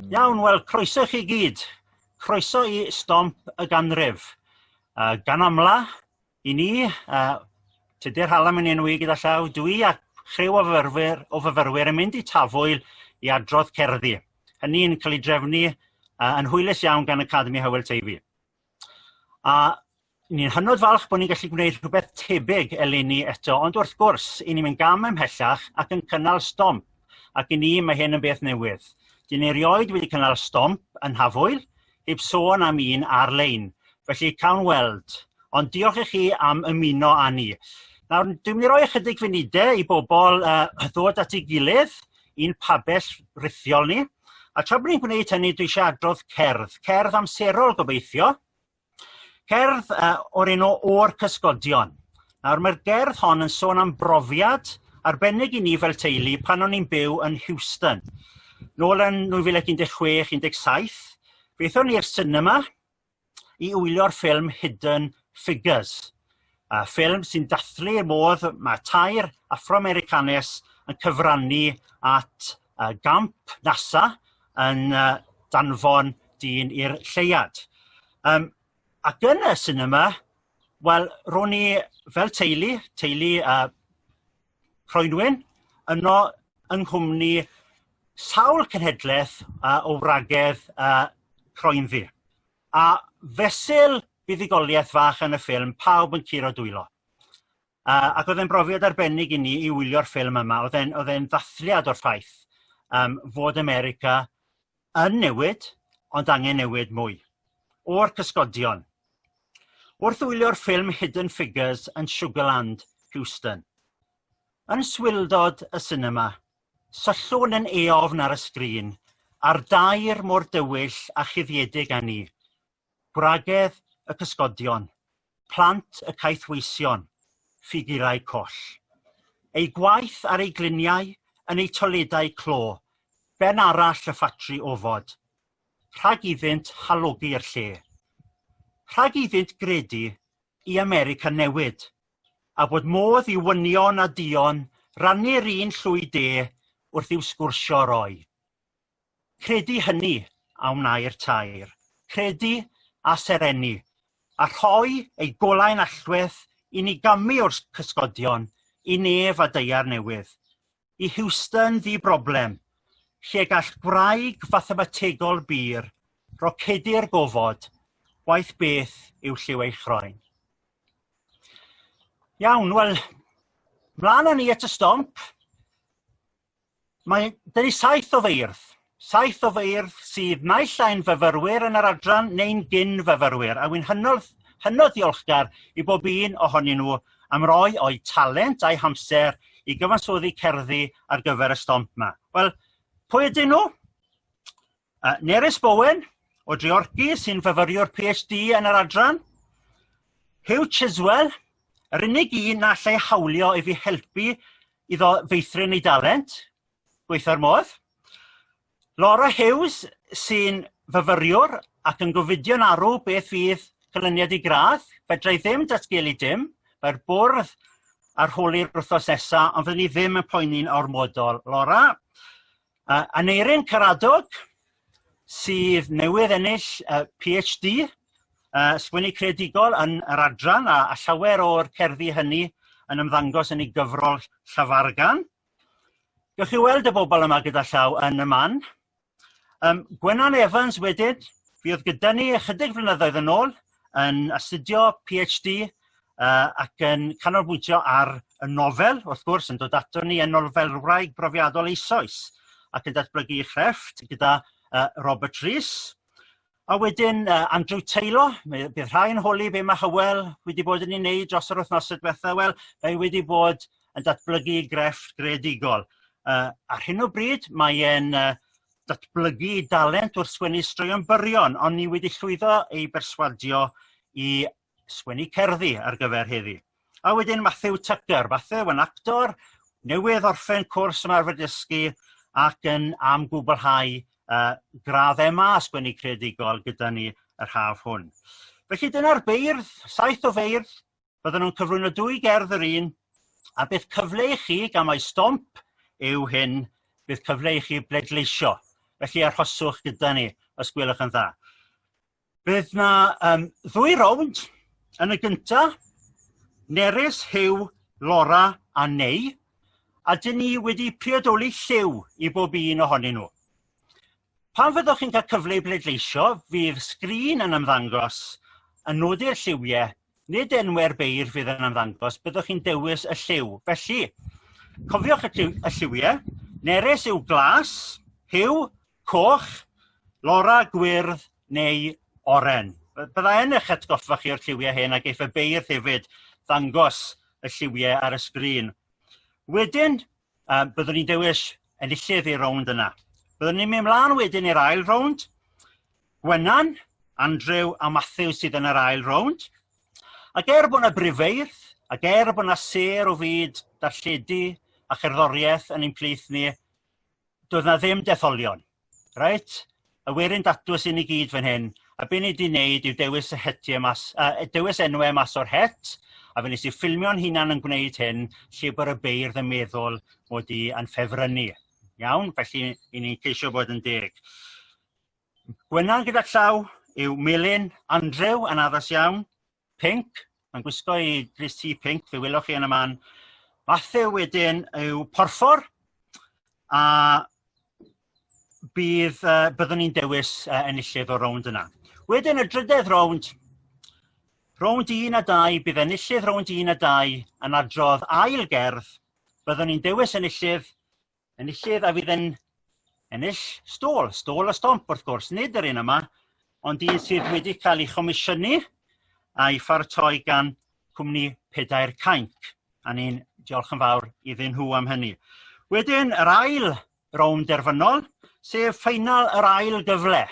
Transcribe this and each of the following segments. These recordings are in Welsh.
Iawn wel croeso i chi gyd. Croeso i stomp y ganrif. Yy gan amla i ni yy Tudur Hallam yn enwi gyda llaw dw i a chriw o fyfyrwyr o fyfyrwyr yn mynd i Tafwyl i adrodd cerddi hynny yn ca'l ei drefnu yy yn hwylus iawn gan Academi Hywel Teifi. a ni'n hynod falch bo' ni'n gallu gwneud rhywbeth tebyg eleni eto ond wrth gwrs i ni mynd gam ymhellach ac yn cynnal stomp ac i ni mae hyn yn beth newydd 'dyn ni rioed wedi cynnal stomp yn Nhafwyl heb sôn am un ar-lein felly cawn weld ond diolch i chi am ymuno â ni. Nawr dwi'n mynd i roi ychydig funude i bobol yy ddod at ei gilydd i'n pabell rithiol ni a tra bo' ni'n gwneud hynny dwi isio adrodd cerdd cerdd amserol gobeithio cerdd yy o'r enw O'r Cysgodion nawr mae'r gerdd hon yn sôn am brofiad arbennig i ni fel teulu pan o'n i'n byw yn Houston nôl yn 2016 17 beth o'n ni i'r sinema i wylio'r ffilm Hidden Figures y ffilm sy'n dathlu y modd mae tair Affro-Americanes yn cyfrannu at y gamp NASA yn danfon dyn i'r lleuad. Um, ac yn y cinema, wel, ro'n i fel teulu, teulu uh, Croenwyn yno yng nghwmni sawl cenhedleth yy o wragedd yy croenddu a fesul buddugoliaeth fach yn y ffilm pawb yn curo dwylo a ac o'dd e'n brofiad arbennig i ni i wylio'r ffilm yma o'dd e'n o'dd e'n ddathliad o'r ffaith yym fod America yn newid ond angen newid mwy o'r cysgodion. Wrth wylio'r ffilm Hidden Figures yn Sugarland, Houston. Yn swildod y sinema, syllwn yn eofn ar y sgrin a'r dair mor dywyll a chuddiedig â ni, gwragedd y cysgodion, plant y caethweision, ffigurau coll. Ei gwaith ar ei gliniau yn ei toiledau clo, ben arall y ffatri ofod, rhag iddynt halogi'r lle. Rhag iddynt gredu i America newid, a bod modd i wynion a duon rannu'r un llwy de wrth i'w sgwrsio roi. Credu hynny a wnâi'r tair. Credu a serennu, a rhoi ei golau'n alltuedd i ni gamu o'r cysgodion i nef a deiar newydd, i Houston ddi-broblem, lle gall gwraig fathemategol bur rocedu'r gofod, waeth beth yw lliw ei chroen. Iawn, wel, mlaen â ni at y stomp. Mae dyn ni saith o feirdd, saith o feirdd sydd naill ai'n fyfyrwyr yn yr adran neu'n gyn-fyfyrwyr a wy'n hynod hynod ddiolchgar i bob un ohonyn nhw am roi o'u talent a'u hamser i gyfansoddi cerddi ar gyfer y stomp 'ma. Wel pwy ydyn nhw? Yy Nerys Bowen o Dreorci sy'n fyfyriwr PhD yn yr adran. Huw Chiswell yr unig un na allai hawlio i fi helpu iddo feithrin ei dalent gweithio'r modd. Laura Hughes sy'n fyfyriwr ac yn gofidio'n arw beth fydd canlyniad ei gradd. Fedra i ddim datgelu dim, mae'r bwrdd ar holi'r wythnos nesaf ond fyddwn i ddim yn poeni'n ormodol. Laura. Uh, Aneirin Caradog sydd newydd ennill uh, PhD uh, sgwennu creadigol yn yr adran a, a llawer o'r cerddi hynny yn ymddangos yn ei gyfrol Llafargan. Gewch chi weld y bobl yma gyda llaw yn y man. Um, Gwenan Evans wedyn, fi oedd gyda ni ychydig flynyddoedd yn ôl, yn astudio PhD yy ac yn canolbwyntio ar y nofel wrth gwrs yn dod ato ni yn nolfelwraig brofiadol eisoes ac yn datblygu ei chrefft gyda yy Robert Rees a wedyn yy Andrew Taylor mi bydd rhai'n holi be ma' Hywel wedi bod yn ei wneud dros yr wythnosau diwetha' wel mae wedi bod yn datblygu ei grefft greadigol yy ar hyn o bryd mae e'n yy datblygu i dalent wrth sgwennu straeon byrion ond ni wedi llwyddo i berswadio i sgwennu cerddi ar gyfer heddi. A wedyn Mathew Tucker, Mathew yn actor newydd orffen cwrs ymarfer dysgu ac yn am gwblhau uh, gradd MA sgwennu creadigol gyda ni yr haf hwn. Felly dyna'r beirdd, saith o feirdd bydden n'w'n cyflwyno dwy gerdd yr un a bydd cyfle i chi gan mai stomp yw hyn bydd cyfle i chi bleidleisio felly arhoswch gyda ni os gwelwch yn dda. Bydd 'na yym ddwy rownd yn y gynta' Nerys, Huw, Laura a Neu a 'dyn ni wedi priodoli lliw i bob un ohonyn nhw. Pan fyddwch chi'n cael cyfle i bleidleisio fydd sgrin yn ymddangos yn nodi'r lliwie nid enwe'r beirdd fydd yn ymddangos byddwch chi'n dewis y lliw felly cofiwch y, lliw, y lliwie nerys yw glas, hiw, coch, lora, gwyrdd neu oren. Bydda yn eich atgoffa chi o'r lliwiau hyn ac eith y beirdd hefyd ddangos y lliwiau ar y sgrin. Wedyn yy byddwn ni'n dewis enillydd i'r rownd yna. Byddwn ni'n mynd mlan wedyn i'r ail rownd Gwenan, Andrew a Matthew sydd yn yr ail rownd ac er bod 'na brifeirth ac er bod 'na sêr o fyd darlledu a cherddoriaeth yn ein plith ni doedd 'na ddim detholion. Reit y werin datws i ni gyd fan hyn a be ni 'di 'neud yw dewis y hetie mas yy dewis enwe mas o'r het a fe nes i ffilmio'n hunan yn gwneud hyn lle bod y beirdd yn meddwl mod i yn ffefrynnu. Iawn felly i ni'n ceisio bod yn deg. Gwenan gyda llaw yw Melin, Andrew yn addas iawn. pinc mae'n gwisgo i grys T pinc fe welwch chi yn y man Mathew wedyn yw porffor a bydd yy byddwn ni'n dewis yy enillydd o'r rownd yna. Wedyn y drydedd rownd rownd un a dau bydd enillydd rownd un a dau yn adrodd ail gerdd byddwn ni'n dewis enillydd enillydd a fydd yn ennill stôl. Stôl a stomp wrth gwrs nid yr un yma ond un sydd wedi cael ei chomisiynu a'i pharatoi gan cwmni Pedair Cainc a ni'n diolch yn fawr iddyn nhw am hynny. Wedyn yr ail rownd derfynol sef ffeinal yr ail gyfle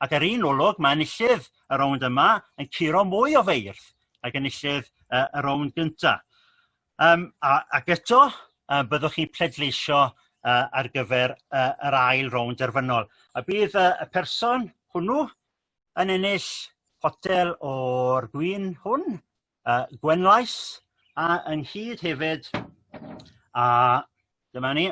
ac ar un olwg mae enillydd y rownd yma yn curo mwy o feirdd ag enillydd y rownd gynta'. Yym a ac eto yy byddwch chi'n pleidleisio yy ar gyfer yy yr ail rownd derfynol a bydd yy y person hwnnw yn ennill potel o'r gwin hwn yy Gwenlais a ynghyd hefyd â dyma ni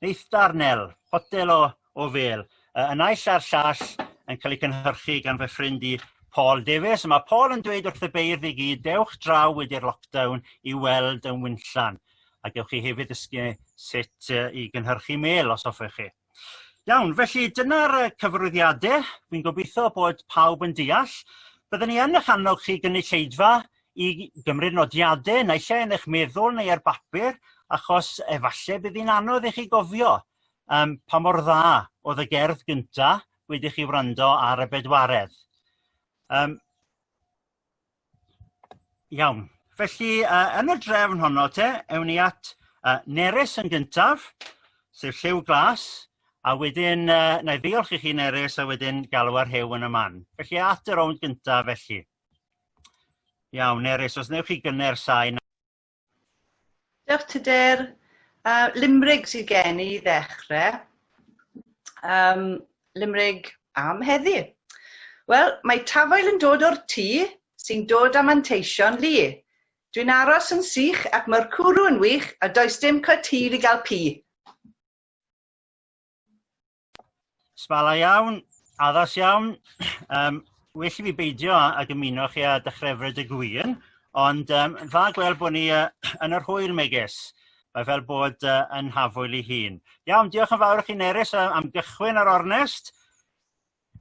Neith darnel, potel o o fêl, yy y naill a'r llall yn cael ei cynhyrchu gan fy ffrind i Paul Davies a ma' Paul yn dweud wrth y beirdd i gyd dewch draw wedi'r lockdown i weld yn winllan a gewch chi hefyd ddysgu sut yy i gynhyrchu mêl os hoffech chi. Iawn felly dyna'r yy cyfarwyddiade fi'n gobeitho bod pawb yn deall. Bydden ni yn eich annog chi gynulleidfa i gymryd nodiade naill ai yn eich meddwl neu ar bapur achos efalle bydd hi'n anodd i chi gofio yym pa mor dda o'dd y gerdd gynta' wedi i chi wrando ar y bedwaredd yym iawn felly yy yn y drefn honno te ewn ni at yy Nerys yn gyntaf sef Lliw Glas a wedyn yy 'na i ddiolch i chi Nerys a wedyn galw ar Huw yn y man felly at y rownd gyntaf felly. Iawn Nerys os newch chi gynner sain. Diolch Tudur. Uh, Limrig sydd gen i ddechrau. Um, Limrig am heddi. Wel, mae tafoel yn dod o'r tŷ sy'n dod am anteision lu. Dwi'n aros yn sych ac mae'r cwrw yn wych a does dim cwt hir i gael pi. Sbala iawn, addas iawn yym well i fi beidio ag ymuno chi â Dychrefryd y Gwion ond yym dda gweld bod ni yy yn yr hwyr megis mae fel bod yy yn Nhafwyl ei hun. Iawn diolch yn fawr i chi Nerys am gychwyn ar ornest.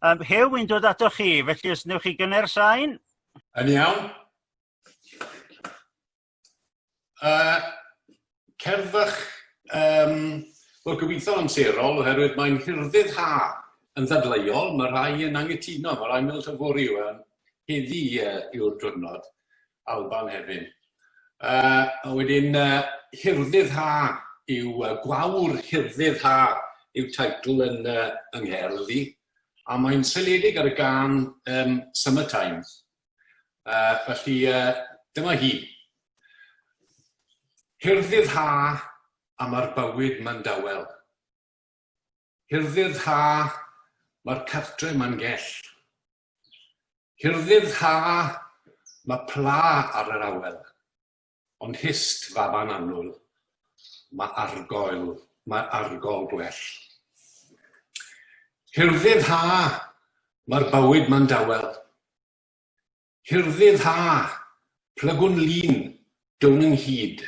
Yym Huw wy'n dod atoch chi felly os newch chi gynnau'r sain. Yn iawn. Uh, cerddwch, um, wel gobeithio yn serol, oherwydd mae'n hirdydd ha yn ddadleuol, mae rhai yn angytuno, mae rhai meddwl tyfori yw yn heddi uh, yw'r diwrnod, Alban hefyd. Uh, a wedyn, uh, hirdydd ha yw uh, gwawr hirdydd ha yw teitl yn, uh, yng Ngherdd i, a mae'n seledig ar y gan um, Summer Times. Uh, felly, uh, dyma hi. Hirddydd ha a mae'r bywyd ma'n dawel. Hirddydd ha, mae'r cartre ma'n gell. Hirddydd ha, mae pla ar yr awel. Ond hyst, faban annwyl, mae argoel, mae argol gwell. Hirddydd ha, mae'r bywyd ma'n dawel. Hirddydd ha, plygwn lun, down ynghyd.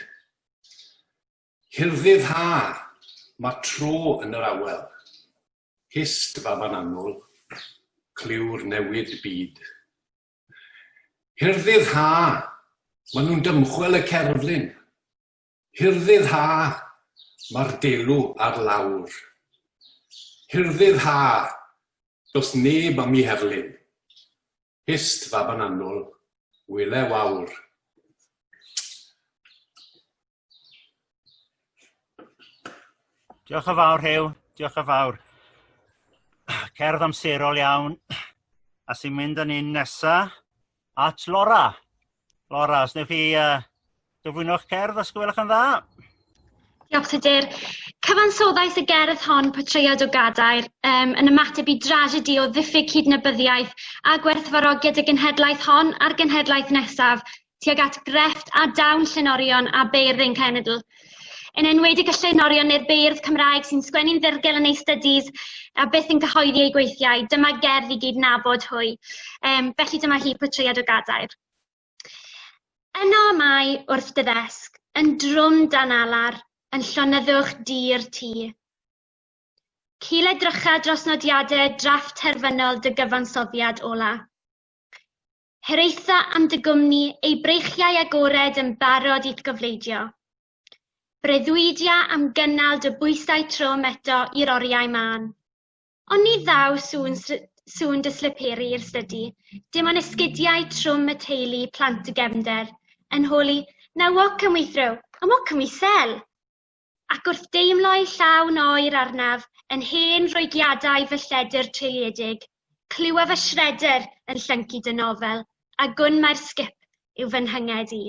Hirddydd ha, mae tro yn yr awel. Hyst, faban annwyl, clyw'r newid byd. Hirddydd ha! Mae nhw'n dymchwel y cerflun. Hirddydd ha! Mae'r delw ar lawr. Hirddydd ha! Does neb am i herlyn. Hist, faban annwl, wyle wawr. Diolch yn fawr Huw, diolch yn fawr. Cerdd amserol iawn a sy'n mynd â ni nesa at Laura. Laura, os newch chi uh, gyflwyno'ch cerdd os gwelwch yn dda? Diolch Tudur. Cyfansoddais y gerdd hon potread o gadair um, yn ymateb i dragedi o ddiffyg cydnabyddiaeth a gwerthfarogiad y genhedlaeth hon a'r genhedlaeth nesaf tuag at grefft a dawn llenorion a beirdd ein cenedl, yn enwedig y llenorion neu'r beirdd Cymraeg sy'n sgwennu'n ddirgel yn eu stydis a byth yn cyhoeddi eu gweithiau. Dyma gerdd i gyd nabod hwy. Um, felly dyma hi pwtriad o gadair. Yno mae wrth dy ddesg, yn drwm dan alar, yn llonyddwch dir ti. Cil edrycha dros nodiadau drafft terfynol dy gyfansoddiad ola. Hiraetha am dy gwmni, ei breichiau agored yn barod i'th gofleidio. Breuddwydia am gynnal dy bwysau trwm eto i'r oriau mân. Ond ni ddaw sŵn, sŵn dy sliperi i'r stydi, dim ond esgidiau trwm y teulu, plant y gefnder, yn holi, 'Na walk can we throw? And what can we sell? Ac wrth deimlo'i llawn oer arnaf yn hen Roegiadau fy lledr treilyedig, clywa fy shredder yn llyncu dy nofel, a gwn mai'r sgip yw fy nhynged i.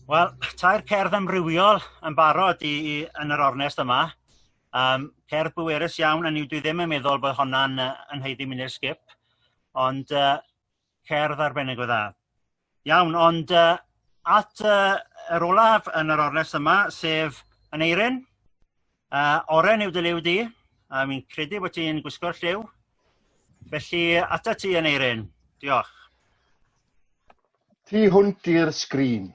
Wel, tair cerdd amrywiol yn barod i i yn yr ornest yma yym cerdd bwerus iawn hynny yw dwi ddim yn meddwl bod honna'n yy yn haeddu mynd i'r sgip ond yy Cerdd arbennig o dda. Iawn ond yy at y yr olaf yn yr ornest yma sef Aneurin yy oren yw dy liw di a fi'n credu bod ti'n gwisgo'r lliw felly ata ti Aneurin diolch. Tu hwnt i'r sgrin.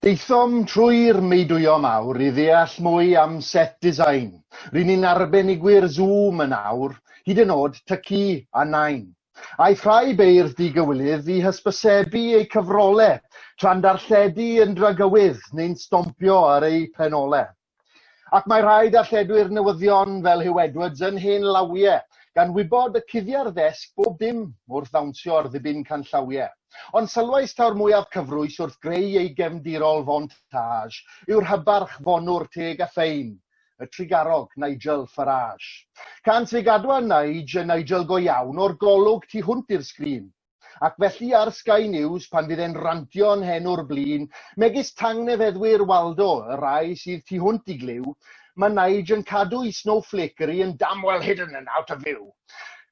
Daethom trwy'r meudwyo mawr i ddeall mwy am set design. Ry'n ni'n arbenigwyr Zoom yn awr, hyd yn o'd Tyci a Nain. Aeth rhai beirdd digywilydd i hysbysebu eu cyfrole, tra'n darlledu yn dragywydd neu'n stompio ar eu penolau. Ac mae rhai darlledwyr newyddion fel Huw Edwards yn hen lawiau, gan wybod y cuddiau'r ddesg bob dim wrth ddawnsio ar ddibyn canllawiau. Ond sylwais taw'r mwyaf cyfrwys wrth greu ei gefndirol fontage yw'r hybarch fonwr teg a ffein, y trugarog Nigel Farage. Can sy gadwa Nige yn Nigel go iawn o'r golwg tu hwnt i'r sgrin. Ac felly ar Sky News, pan fydd e'n rantio yn hen o'r blin, megis tangnefeddwyr Waldo, y rhai sydd tu hwnt i glyw, mae Nige yn cadw'i snowflakery yn damn well hidden and out of view.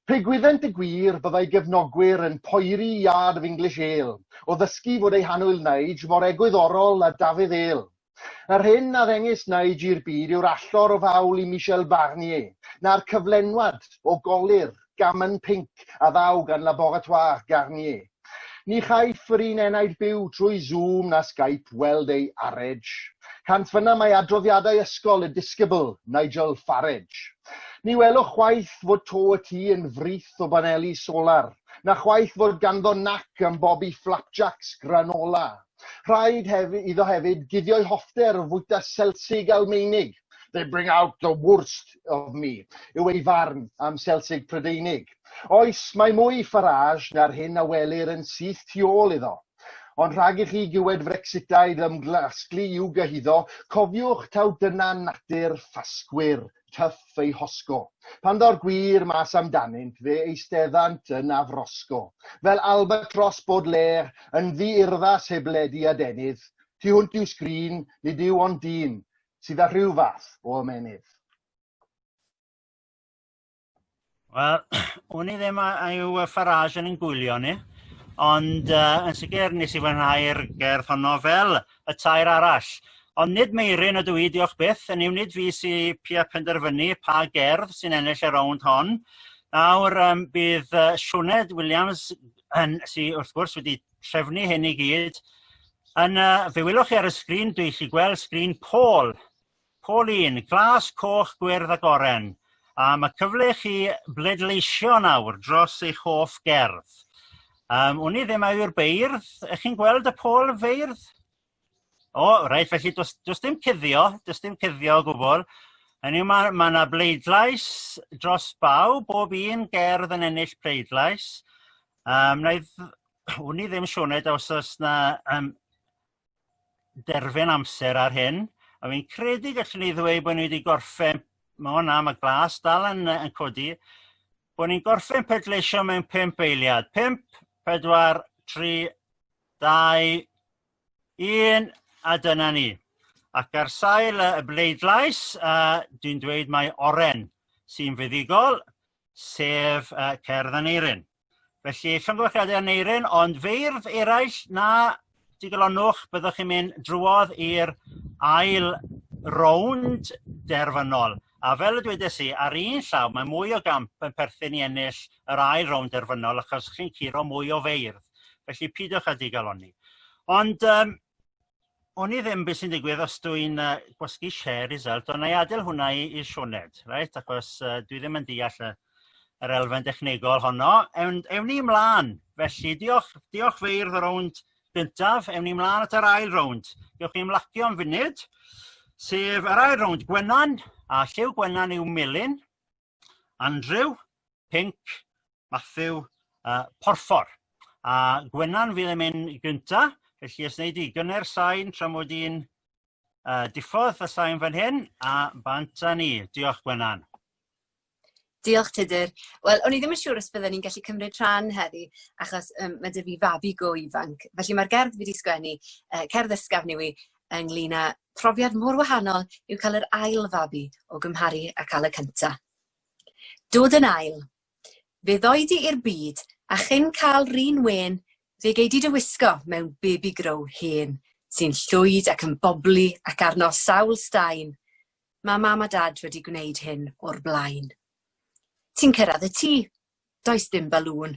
Pe gwyddent y gwir, byddai gefnogwyr yn poeri iard of English ale, o ddysgu fod eu hannwyl Nige mor egwyddorol â Dafydd Ale. Yr hyn a ddengys Nige i'r byd yw'r allor o fawl i Michel Barnier, na'r cyflenwad o golur gammon pinc a ddaw gan Laboratoire Garnier. Ni chaiff yr un enaid byw trwy Zoom na Skype weld ei arej. Cant fynna mae adroddiadau ysgol y disgybl Nigel Farage. Ni welwch chwaith fod to y tŷ yn frith o baneli solar, na chwaith fod ganddo nac am bobi flapjacks granola. Rhaid hefyd, iddo hefyd guddio'i hoffter o fwyta Selsig Almeinig, they bring out the worst of me, yw ei farn am Selsig Prydeinig. Oes, mae mwy Farage na'r hyn a welir yn syth tu ôl iddo. Ond rhag i chi giwed Frexitaid ymglasglu i'w gyhuddo, cofiwch taw dyna natur ffasgwyr Tuff ei hosgo. Pan ddaw'r gwir mas amdanynt, fe eisteddant yn afrosgo. Fel albatros Baudelaire, yn ddi-urddas heb led i adenydd, tu hwnt i'w sgrin, nid yw ond dyn, sydd â rhyw fath o ymennydd. Wel wn i ddim a yw y Farage yn ein gwylio ni ond yy yn sicr nes i fwynhau'r gerdd honno fel y tair arall ond nid Meiryn ydw i diolch byth hynny yw nid fi sy pia penderfynu pa gerdd sy'n ennill y rownd hon nawr yym bydd yy Sioned Williams yn sy wrth gwrs wedi trefnu hyn i gyd yn yy fe welwch chi ar y sgrin dwi 'llu gweld sgrin Paul Pauline, glas, coch, gwyrdd ac oren a ma' cyfle i chi bleidleisio nawr dros eich hoff gerdd yym wn i ddim a yw'r beirdd y'ch chi'n gweld y pôl feirdd? O reit felly do's do's dim cuddio do's dim cuddio o gwbwl hynny yw ma' ma' 'na bleidlais dros bawb bob un gerdd yn ennill pleidlais yym 'na i dd- wn i ddim Sioned os o's 'na yym derfyn amser ar hyn a fi'n credu gallwn ni ddweud bod ni wedi gorffen ma' o na ma' glas dal yn yy yn codi bod ni'n gorffen pedleisio mewn pump eiliad pump pedwar tri dau un a dyna ni ac ar sail y bleidlais uh, dwi'n dweud mae oren sy'n fuddugol sef uh, cerdd Aneirin. Felly llongyfarchiadau Aneurin ond feirdd eraill na digalonwch byddwch chi'n mynd drwodd i'r ail rownd derfynol a fel y dwedes i ar un llaw mae mwy o gamp yn perthyn i ennill yr ail rownd derfynol achos chi'n curo mwy o feirdd felly pidiwch â digalonni. Ond yym oni ddim be sy'n digwydd os dw i'n yy gwasgu share result ond na'i adael hwnna i i'r Sioned reit achos yy dwi ddim yn deall y yr elfen dechnegol honno ewn ewn ni mlan felly diolch diolch Feirdd y rownd gyntaf ewn ni mlan at yr ail rownd gewch chi ymlacio am funud sef yr ail rownd Gwenan a Lliw Gwenan yw melyn Andrew Pinc, Mathew a Porffor a Gwenan fydd yn mynd gynta' felly os nei di gynne'r sain tra mod i'n yy diffodd y sain fan hyn a bant a ni. Diolch Gwenan. Diolch Tudur. Wel o'n i ddim yn siŵr os bydden ni'n gallu cymryd rhan heddi achos um, mae dy fi fabi go ifanc. Felly mae'r gerdd fi wedi sgwennu, uh, cerdd ysgafn i wi, ynglyn â Profiad mor wahanol yw cael yr ail fabi o gymharu a cael y cynta. Dod yn ail. Fe ddoi di i'r byd a chyn cael run wen fe gei di dy wisgo mewn baby grow hen sy'n llwyd ac yn bobli ac arno sawl staen. Mae mam a dad wedi gwneud hyn o'r blaen. Ti'n cyrraedd y tŷ. Does dim balŵn,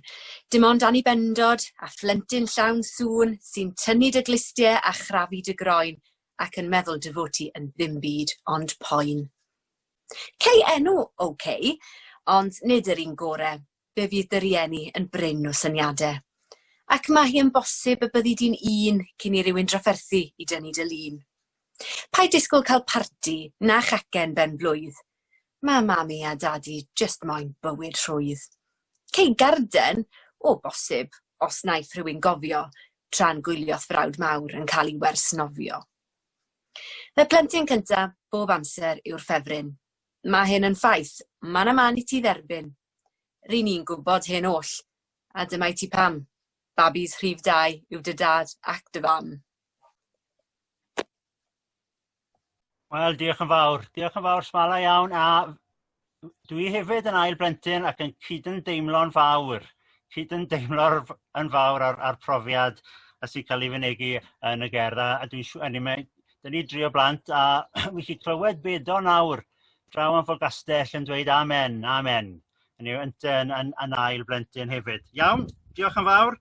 dim ond annibendod a phlentyn llawn sŵn sy'n tynnu dy glustiau a chrafu dy groen ac yn meddwl dy fod ti yn ddim byd ond poen. Cei enw OK, ond nid yr un gore, fe fydd dy rieni yn brin o syniadau. Ac mae hi yn bosib y byddi di'n un cyn i rywun drafferthu i dynnu dy lun. Paid disgwyl cael parti na chacen ben blwydd, Mae Mami a Dadi jyst moyn bywyd rhwydd. Cei garden, o bosib, os wnaeth rhywun gofio, tra'n gwylio'th frawd mawr yn cael ei wers nofio. Fy plentyn cynta bob amser yw'r ffefryn. Mae hyn yn ffaith, man a man i ti dderbyn. Ry'n ni'n gwybod hyn oll, a dyma i ti pam. Babis rhif dau yw dy dad ac dy fam. Wel diolch yn fawr diolch yn fawr Sbala iawn a dwi hefyd yn ail blentyn ac yn cydymdeimlo'n fawr cydymdeimlo'r yn fawr a'r a'r profiad a sy'n ca'l ei fynegi yn y gerdd a a dwi'n siŵ- eniwe 'da ni dri o blant a wi 'llu clywed Bedo nawr draw yn Forgastell yn dweud amen amen hynny yw yntyn yn yn yn ail blentyn hefyd. Iawn diolch yn fawr.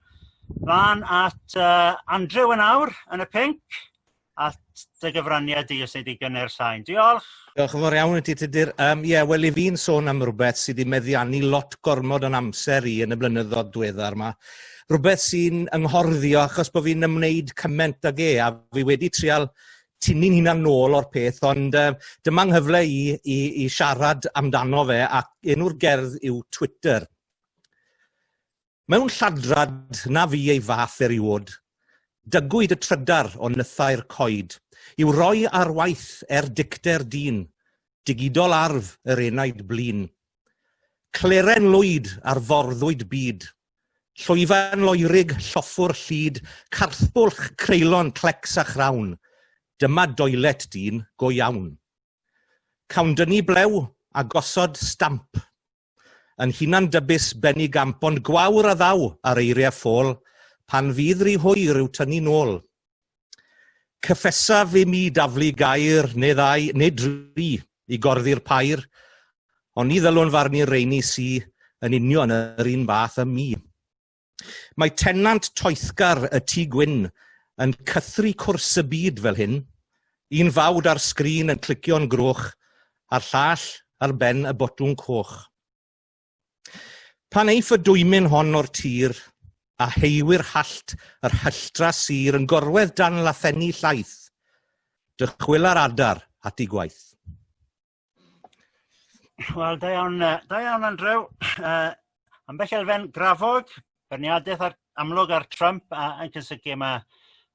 Mlan at yy Andrew yn awr yn y pink. at dy gyfraniad di os ei di gynner sain. Diolch! Diolch yn fawr iawn i ti, Tudur. Um, ie, yeah, wel, i fi'n sôn am rhywbeth sydd wedi meddiannu lot gormod o'n amser i yn y blynyddoedd diweddar yma. Rhywbeth sy'n ynghorddio achos bod fi'n ymwneud cyment ag e, a fi wedi trial tynnu'n hunan nôl o'r peth, ond uh, dyma nghyfle i, i, i siarad amdano fe, ac enw'r gerdd yw Twitter. Mewn lladrad na fu ei fath eriôd, dygwyd y trydar o nythau'r coed i'w roi ar waith er dicter dyn, digidol arf yr enaid blin. Cleren lwyd ar forddwyd byd, llwyfan loerig lloffwr llid, carthbwlch creulon clecs a chrawn, dyma doilet dyn go iawn. Cawn dynnu blew a gosod stamp. Yn hunan dybus benni gamp ond gwawr a ddaw ar eiriau ffôl pan fydd rhy hwyr i'w tynnu nôl. Cyffesaf i mi daflu gair neu ddau neu dri i gorddi'r pair, ond ni ddylwn farnu reini sy yn union yr un fath â mi. Mae tenant toethgar y Tŷ Gwyn yn cythru cwrs y byd fel hyn, un fawd ar sgrin yn clicio'n groch a'r llall ar ben y botwm coch. Pan eiff y dwymyn hon o'r tir, a heiwyr hallt yr hylltra sir yn gorwedd dan lathenni llaeth, dychwyla'r adar at ei gwaith. Wel, da iawn, da iawn Andrew. Uh, ambell elfen grafog, berniadaeth ar, amlwg ar Trump a, yn cysylltu yma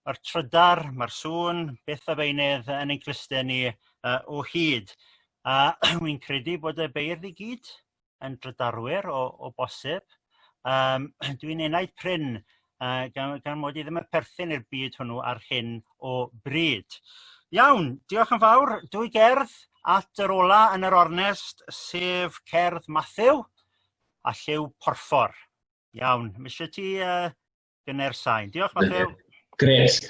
o'r trydar, mae'r sŵn, beth a beinydd yn ein cluste ni uh, o hyd. A uh, wi'n credu bod y beirdd i gyd yn drydarwyr o o bosib yym dwi'n enaid prin yy gan gan mod i ddim yn perthyn i'r byd hwnnw ar hyn o bryd. Iawn diolch yn fawr dwy gerdd at yr ola' yn yr ornest sef cerdd Mathew a lliw porffor. Iawn ma' isio ti yy gynne'r sain. Diolch, Mathew. Gret.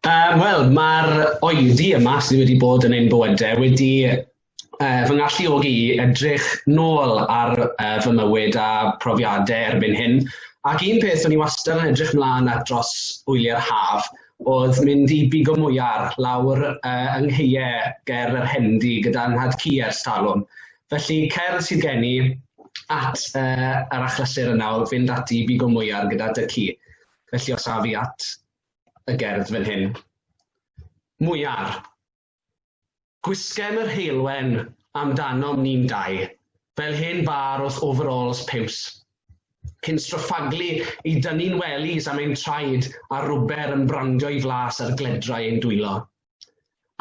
Uh, Wel, mae'r oeddi yma sydd wedi bod yn ein bywydau wedi uh, fy ngalluogi i edrych nôl ar uh, fy mywyd a profiadau erbyn hyn. Ac un peth o'n i wastad yn edrych mlaen at dros wyliau'r haf oedd mynd i bigo mwyar lawr uh, yng ngheiau ger yr Hendi gyda nhad cu ers talwm. Felly cer sydd gen i at uh, yr achlysur yn nawr, fynd ati i bigo mwyar gyda dy ci. Felly os af i at y gerdd fan hyn. Mwyar. Gwisgem yr heulwen amdanom ni'n dau, fel hen bar wrth overalls piws. Cyn stroffaglu i dynnu'n wellies am ein traed a rwber yn brandio i flas ar gledrau ein dwylo.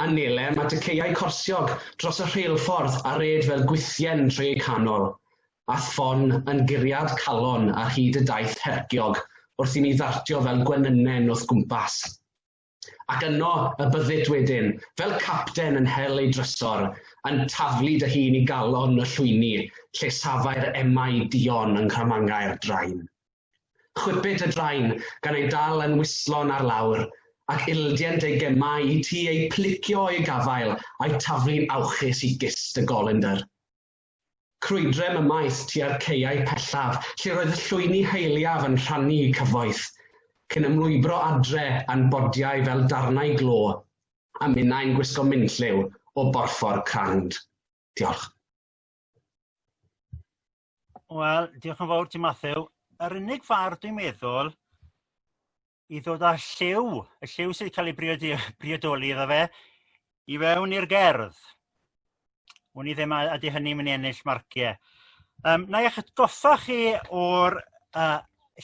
a Nele mae tŷ caeau corsiog dros y rheilffordd a red fel gwithien trwy eu canol, a ffon yn guriad calon ar hyd y daith herciog wrth i ni ddartio fel gwenynen wrth gwmpas. Ac yno y byddyt wedyn, fel capten yn hel ei drysor, yn taflu dy hun i galon y llwyni lle safai'r emau duon yng nghramangau'r drain. Chwipid y drain gan ei dal yn wislon ar lawr, ac ildient ei gemau i ti eu plicio o'i gafael a'u taflu'n awchus i gist y golendr. Crwydrem ymaith tua'r caeau pellaf lle roedd y llwyni haeliaf yn rhannu'u cyfoeth, cyn ymlwybro adre a'n bodiau fel darnau glo, a minnau'n gwisgo minlliw o borffor crand. Diolch. Wel diolch yn fawr ti Mathew. Yr unig ffordd dwi'n meddwl i ddod â lliw y lliw sy'n cael ei briodi- briodoli iddo fe i fewn i'r gerdd. Wn i ddim a ydy hynny'n mynd i ennill marcie. Yym na i eich atgoffa chi o'r uh,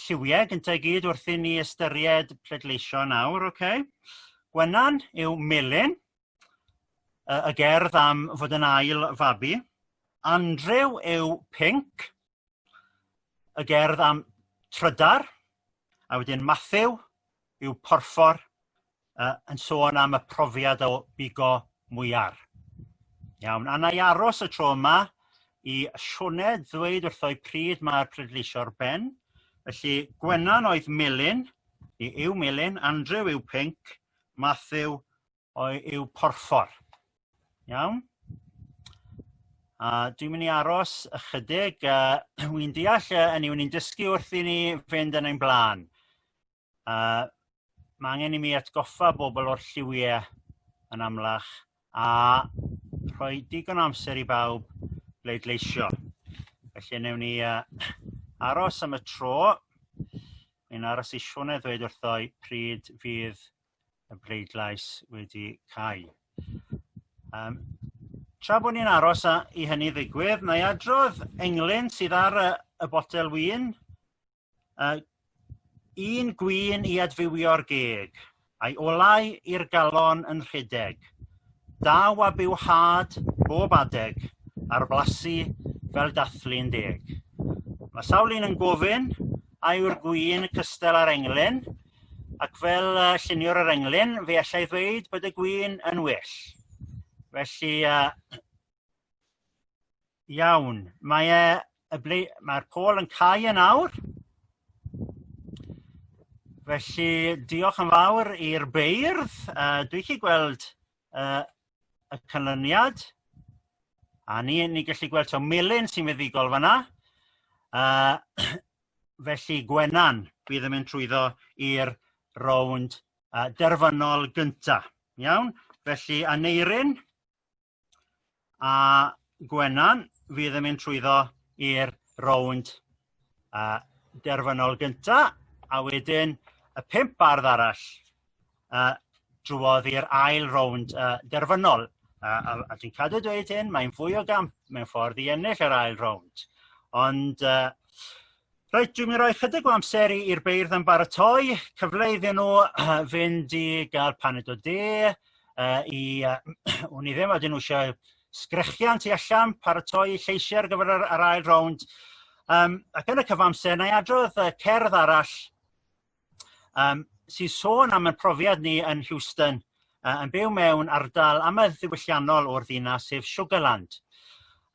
lliwiau gyntaf i gyd wrth i ni ystyried pleidleisio nawr, oce? Okay? Gwenan yw melyn, yy y gerdd am fod e'n ail fabi. Andrew yw pinc y gerdd am trydar a wedyn Mathew yw porffor yy yn sôn am y profiad o bigo mwyar. Iawn a na'i aros y tro yma i Sioned ddweud wrtho pryd mae'r pleidleisio ar ben felly Gwennan oedd melyn i yw melyn Andrew yw pinc Mathew oe- yw porffor iawn a dwi'n mynd i aros ychydig a wi'n deall yy 'ynny yw ni'n dysgu wrth i ni fynd yn ein bla'n a ma' angen i mi atgoffa bobol o'r lliwie yn amlach a rhoi digon o amser i bawb bleidleisio felly newn ni yy aros am y tro fi'n aros i Sione ddweud wrtho i pryd fydd y bleidlais wedi cau. Yym tra bod ni'n aros a- i hynny ddigwydd na'i adrodd englyn sydd ar y y botel win yy un gwin i adfywio'r geg a'i olau i'r galon yn rhedeg daw a byw had bob adeg ar blasu fel dathlu'n deg. Mae sawl un yn gofyn a yw'r gwin cystal â'r englyn ac fel y lluniwr yr englyn fe allai ddweud bod y gwin yn well felly yy iawn mae e y ble mae'r pôl yn cau yn awr felly diolch yn fawr i'r beirdd uh, dwi chi gweld uh, y canlyniad a ni ni gallu gweld to melyn sy'n fuddigol fanna uh, Felly Gwenan fydd yn mynd trwyddo i'r rownd yy derfynol gynta' iawn? Felly Aneurin a Gwenan fydd yn mynd trwyddo i'r rownd yy derfynol gynta' a wedyn y pump bardd arall yy drwodd i'r ail rownd yy derfynol a a a dwi'n cadw dweud hyn mae'n fwy o gamp mewn ffordd i ennill yr ail rownd ond yy reit dwi'n mynd i roi chydig o amser i i'r beirdd ymbaratoi cyfle iddyn n'w yy fynd i ga'l paned o de yy i yy wn i ddim odyn n'w isio sgrechian tu allan paratoi eu lleisiau ar gyfer yr ail rownd yym ac yn y cyfamser nâi adrodd yy cerdd arall yym sy'n sôn am y profiad ni yn Heuston yy yn byw mewn ardal amlddiwylliannol o'r ddinas sef Sugarland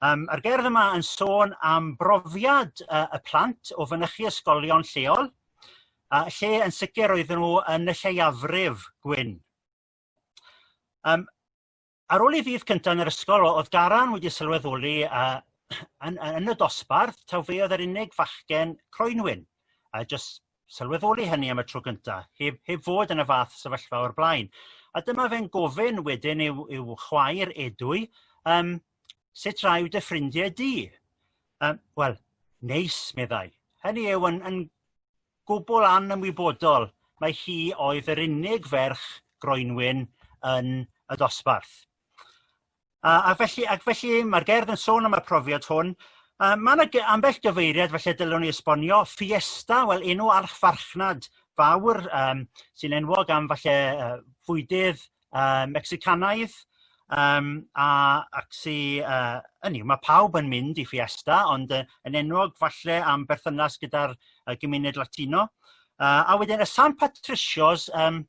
yym a'r gerdd yma yn sôn am brofiad yy y plant o fynychu ysgolion lleol a lle yn sicr oeddwn nhw yn y lleiafrif gwyn yym Ar ôl ei fyd cynta' yn yr ysgol o'dd Garan wedi sylweddoli yy yn yn y dosbarth taw fe o'dd yr unig fachgen croenwyn a jyst sylweddoli hynny am y tro cynta' heb heb fod yn y fath sefyllfa o'r blaen a dyma fe'n gofyn wedyn i'w i'w chwaer Edwy yym sut raw dy ffrindie di? Yym wel neis meddai hynny yw yn yn gwbl anymwybodol mai hi oedd yr unig ferch groenwyn yn y dosbarth. A, a felly, ac felly mae'r gerdd yn sôn am y profiad hwn a mae yna ambell gyfeiriad felly dylwn ni esbonio Fiesta wel enw archfarchnad fawr um, sy'n enwog am falle uh, fwydydd yy Mecsicanaidd yym a ac sy yy hynny yw ma' pawb yn mynd i Fiesta ond yy yn enwog falle am berthynas gyda'r y gymuned Latino yy a wedyn y San Patricios yym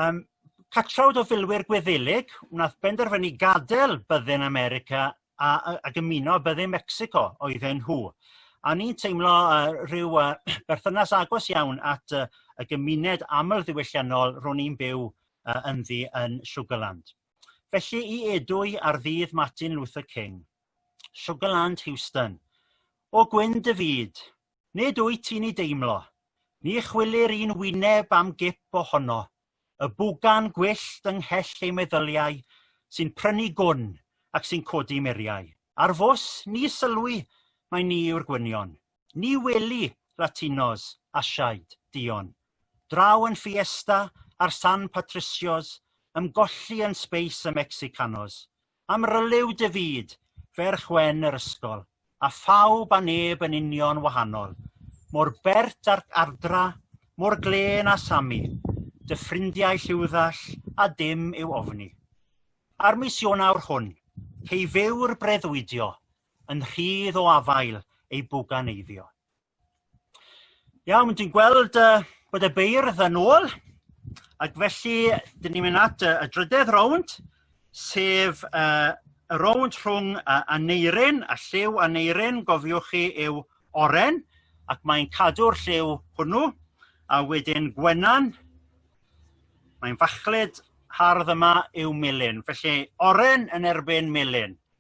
yym catrawd o filwyr Gwyddelig wnaeth benderfynu gadel byddin America a a a dymuno bydde Mecsico oedden nhw a o'n i'n teimlo yy rhyw yy berthynas agos iawn at y y gymuned aml ddiwylliannol ro'n i'n byw yy ynddi yn Sugarland. Felly i Edwy ar ddydd Martin Luther King Sugarland Heuston O gwyn dy fyd Nid wyt ti'n ei deimlo. Ni chwilir un wyneb am gip ohono, y bwgan gwyllt yng nghell ei meddyliau sy'n prynu gwn ac sy'n codi muriau. Ar fws, ni sylwi mai ni yw'r gwynion. Ni weli Latinos, Asiaid, duon. Draw yn Fiesta a'r San Patricios, ymgolli yn Space y Mexicanos. Amryliw dy fyd, ferch wen yr ysgol, A phawb a neb yn union wahanol, Mor bert a'r ardra, mor glên a Sami, Dy ffrindiau lliwddall a dim i'w ofni. A'r mis Ionawr hwn, cei fyw'r breuddwydio, Yn rhydd o afael ei bwganeiddio. Iawn dwi'n gweld yy bod y beirdd yn ôl ac felly 'dyn ni'n mynd at y drydedd rownd sef y y rownd rhwng a Aneurin a Lliw. Aneurin gofiwch chi yw oren ac mae'n cadw'r lliw hwnnw a wedyn Gwenan mae'n fachlud hardd yma yw melyn felly oren yn erbyn melyn.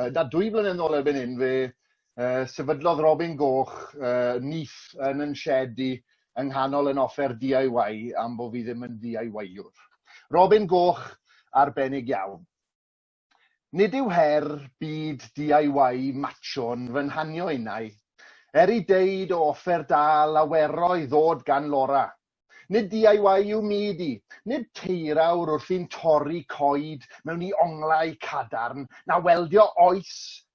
uh, na, dwy flynedd yn ôl erbyn hyn, fe uh, sefydlodd Robin Goch uh, nith yn yn shed i yng nghanol yn offer DIY am bod fi ddim yn DIY-wr. Robin Goch, arbennig iawn. Nid yw her byd DIY macho'n fy nhanio innau, er i deud o offer da lawerau ddod gan Laura, Nid DIY yw myd i. Nid teirawr wrth i'n torri coed mewn i onglau cadarn, na weldio oes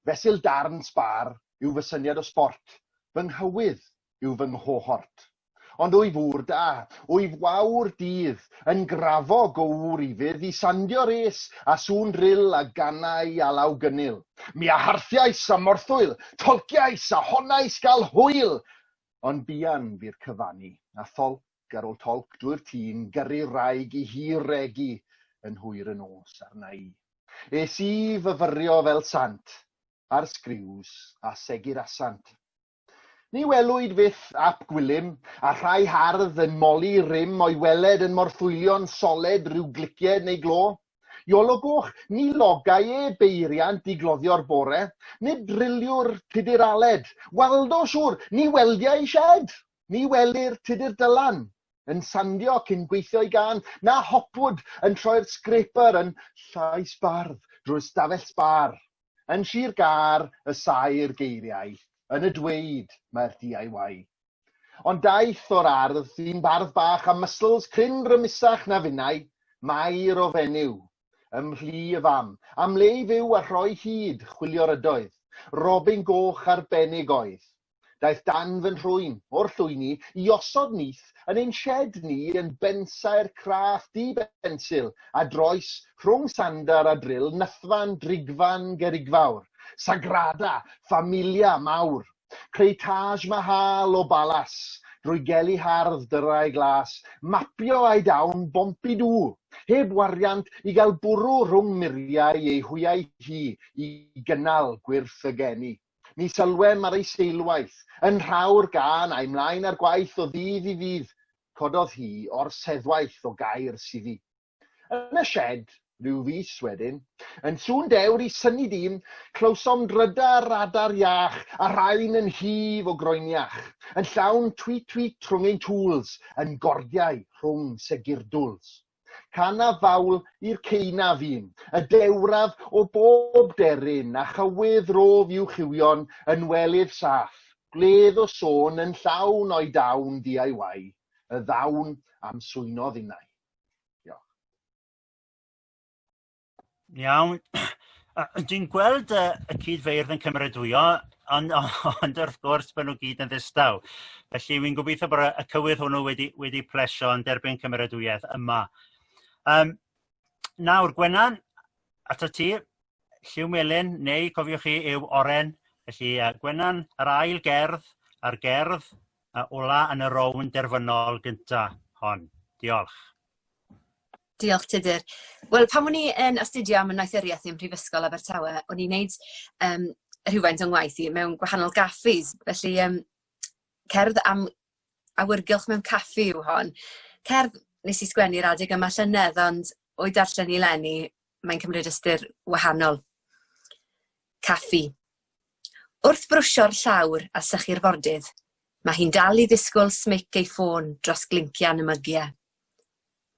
fesul darn sbâr yw fy syniad o sbort, fy nghywydd yw fy nghohort. Ond wyf ŵr da, wyf wawr dydd, yn grafog o ŵr i fydd i sandio rês a sŵn ril a ganau alaw gynnil. Mi a harthiais a morthwyl, tolciais a honnais gael hwyl, Ond buan fu'r cyfannu, a tholc ar ôl tolc drwy'r tîn, gyrru'r wraig i hi regi yn hwyr y nos arna i. Es i fyfyrio fel sant ar sgriws a segur asant. Ni welwyd fyth ap Gwilym, a rhai hardd yn moli rym o'i weled yn morthwylion soled rhyw glicied neu glo. Iolo Goch, ni logai e beiriant i gloddio'r bore, nid driliwr tudur Aled. Waldo, siŵr, ni weldia ei sied, ni welir tudur Dylan yn sandio cyn gweithio'i gân, na Hopwood yn troi'r scraper yn llais bardd drwy'r ystafell sbar. Yn Sir Gâr y saer geiriau, yn y dweud mae'r DIY. Ond daeth o'r ardd ddyn bardd bach a muscles cryn rymusach na finnau, Mair o fenyw. Ym mhlu y fam, am le i fyw a rhoi hud, chwilio'r ydoedd. Robin goch arbennig oedd. Daeth dan fy nhrwyn, o'r llwyni, i osod nyth yn ein shed ni yn bensaer craff du bensil a droes rhwng sandar a dril nythfan drigfan gerigfawr, sagrada familia mawr. Creu Taj Mahal o balas, drwy geli hardd dyrau glas, mapio a'i dawn bompi dŵ, heb wariant i gael bwrw rhwng muriau ei hwyau hi i gynnal gwyrth y geni. Ni sylwem ar ei seilwaith, yn rhawr gân a'i mlaen ar gwaith o ddydd i ddydd, cododd hi o'r seddwaith o gair sydd i. Yn y sied, rhyw fis wedyn, yn sŵn dewr i synnu dîm, clywsom drydar radar iach a rhain yn hif o groeniach, yn llawn tweet tweet rhwng ein tŵls, yn gordiau rhwng segirdwls. Can a fawl i'r ceunaf un, y dewraf o bob deryn a chywydd rof i'w chiwio'n yn welydd saff, gwledd o sôn yn llawn o'i dawn DIY, y ddawn am swynodd innau. Diolch. Iawn dwi'n gweld y y cyd-ddeirf yn cymeradwyo ond ond wrth gwrs ma' n'w gyd yn ddistaw felly wi'n gobeithio bod y cywydd hwnnw wedi wedi plesio yn derbyn cymeradwyaeth yma. Yym nawr Gwenan atat ti. Lliw Melyn neu cofiwch chi yw Oren felly yy Gwenan yr ail gerdd a'r gerdd yy ola' yn y rownd derfynol gynta' hon. Diolch. Diolch Tudur. Wel pan o'n i yn astudio am ynaethuriaeth ym Mhrifysgol Abertawe o'n i'n neud um, rhywfaint o'n ngwaith i mewn gwahanol gaffis felly um, cerdd am awyrgylch mewn caffi yw hon. Cerdd nes i sgwennu'r adeg yma llynedd ond o'i darllen i lenni Mae'n cymryd ystyr wahanol. Caffi. Wrth brwsio'r llawr a sychu'r fordydd, mae hi'n dal i ddisgwyl smic ei ffôn dros glincian y mygiau.